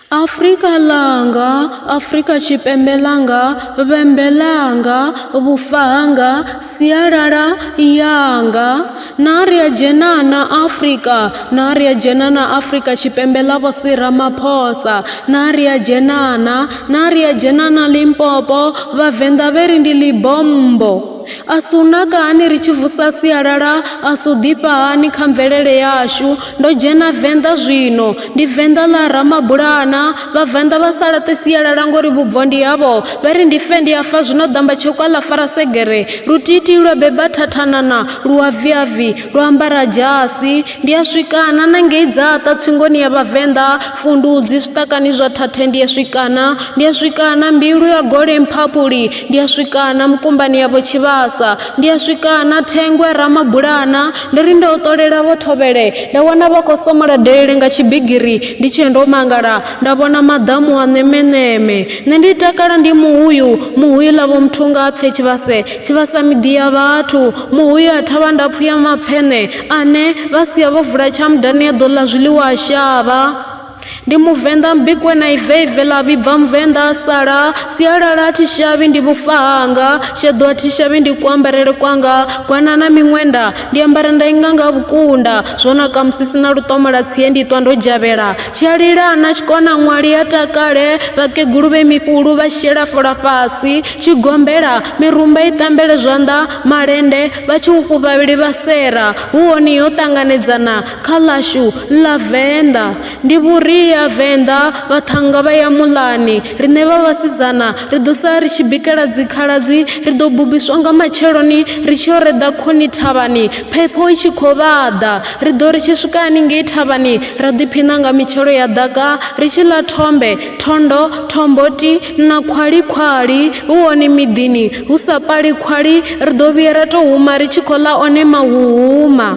Afrika Langa, Afrika Tshipembe Langa, Vhembe Langa, Vhufa Hanga, Sialala Yanga. Na ri a dzhena na Afrika, na ri a dzhena na Afrika Tshipembe ḽa Vho Sir Ramaphosa. Na ri a dzhena na, na ri a dzhena na Limpopo, Vhavenḓa vhe ri ndi ḽi bommbo. A si u naka hani ri tshi vusa sialala, a si u ḓifha hani kha mvelele yashu. Ndo dzhena Venḓa zwino, ndi Venḓa ḽa Ramabulana. Vhavenḓa vha sa laṱe sialala ngori vhubvo ndi havho. Vha ri ndi fe ndi a fa zwino ḓamba tsheuka ḽa fara segere. Lutiitii lwa beba thathanana, lu a viavi, lwa ambara dzhasi. Ndi a swikana na ngei Dzaṱa tsingoni ya Vhavenḓa, Fundudzi, Zwiṱakani zwa Thathe ndi a swikana. Ndi a swikana Mbilwi ya Gole Mphaphuli, Ndi a swika na mukumbani yavho tshivhasa ndi a swika na thengwe ramabulana ndo ri ndo ṱolela vho thovhele nda wana vha khou somola delele nga tshibigiri ndi tshee ndo mangala nda vhona maḓamu a ṋemeṋeme nṋe ndi takala ndi muhuyu muhuyu ḽavho muthu nga pfhe tshivhase tshivhasa miḓi ya vhathu muhuyu a thavha ndapfu ya mapfheṋe ane vha sia vho vula tshamudani ya ḓo ḽa zwiḽiwa a shavha ndi muvenḓa mbikwe na iveive ḽa vhibva muvenḓa a sala sialala a thi shavhi ndi vhufa hanga sheḓo a thi shavhi ndi kuambarele kwanga gwana na miṅwenda ndi ambara nda inga nga vhukunda zwo naka musi sina luṱomo ḽa tsie ndi ṱwa ndo dzhavhela tshi a lila na tshikona ṅwali a takale vhakegulu vhe mifhulu vha shela fola fhasi tshi gombela mirumba i tambele zwanḓa malende vha tshi u fhufha vhili vha sera hu hone ho ṱanganedzana Kha ḽashu ḽa Venḓa ndi vhuria Venḓa vhaṱhannga vha ya muḽani riṋe vha vhasidzana ri ḓo sa ri tshi bikela dzikhaladzi ri ḓo bubiswa nga matsheloni ri tshi yo reḓa khoni thavhani phepho i tshi khou vhaḓa ri ḓo ri tshi swika haningei thavhani ra ḓiphiṋa nga mitshelo ya ḓaka ri tshi ḽa thombe thondo thomboti na khwali khwali hu hone miḓini hu sa pali khwali ri ḓo vhuya ra tou huma ri tshi khou ḽa one mahuhuma.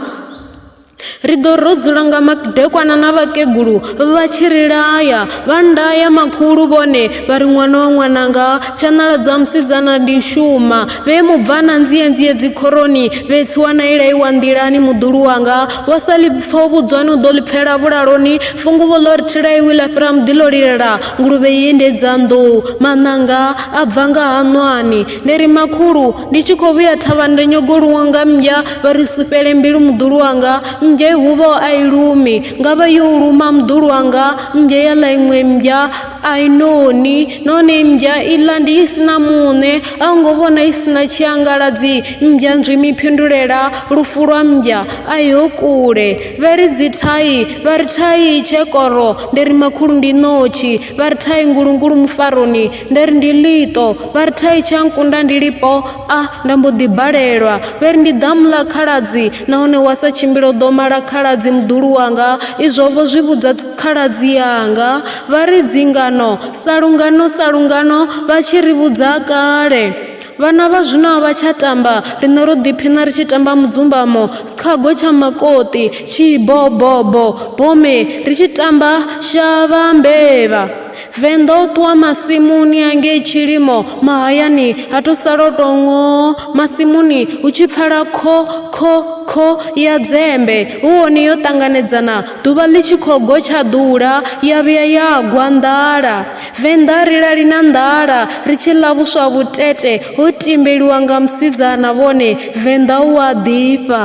Ri ḓo rodzula nga madekwana na vhakegulu vha tshi ri laya, vha ndaya makhulu vhone vha ri ṅwana wa ṅwananga, tshaṋala dza musidzana ndi shuma, vhe mubvana nzie-nzie dzikhoroni, vhe tsiwa na ilaiwa nḓilani muḓulu wanga, wa sa ḽi pfa u vhudzwani u ḓo ḽi pfela vhulaloni, funguvho ḽo ri thilaiwi ḽa fhira muḓi ḽo lilela, nguluvhe i endedza nḓou, maṋanga a bva nga haṋwani. Ndi ri, Makhulu! ndi tshi khou vhuya thavha nda nyago luwa nga mmbya vha ri sufhele mbilu muḓulu wanga mmbya i huvha a i lumi nga vha yo luma muḓulu wanga mmbya ya ḽa iṅwe mmbya a i noni nahone mmbya i ḽa ndi i sina muṋe a u ngo vhona i sina tshiangaladzi mmbya nzwi mi phindulela lufu lwa mmbya a iho kule vha ri dzi thai vha ri thai tshekoro ndi ri makhulu ndi ṋotshi vha ri thai ngulungulu mufaroni nda ri ndi ḽiṱo vha ri thai tsha nkunda ndi lipo a nda mbo ḓi balelwa vhe ri ndi ḓamu ḽa khaladzi nahone wa sa tshimbila u ḓo mala khaladzi muḓulu wanga izwo vho zwi vhudza khaladzi yanga vha ri dzingano sa lungano sa lungano vha tshi ri vhudza kale vhana vha zwino a vha tsha tamba riṋe ro ḓiphina ri tshi tamba mudzumbamo sikhago tsha makoṱi tshibobobo bome ri tshi tamba shavha mbevha Venḓa o ṱuwa masimuni a ngei tshilimo mahayani ha to sala o tou ṅoo masimuni hu tshi pfala kho kho kho ya dzembe hu hone yo ṱanganedzana ḓuvha ḽi tshi khou gotshaḓula ya vhuya ya gwa nḓala venḓa ri lali na nḓala ri tshi ḽa vhuswa vhutete ho timbeliwa nga musidzana vhone venḓa u a ḓifha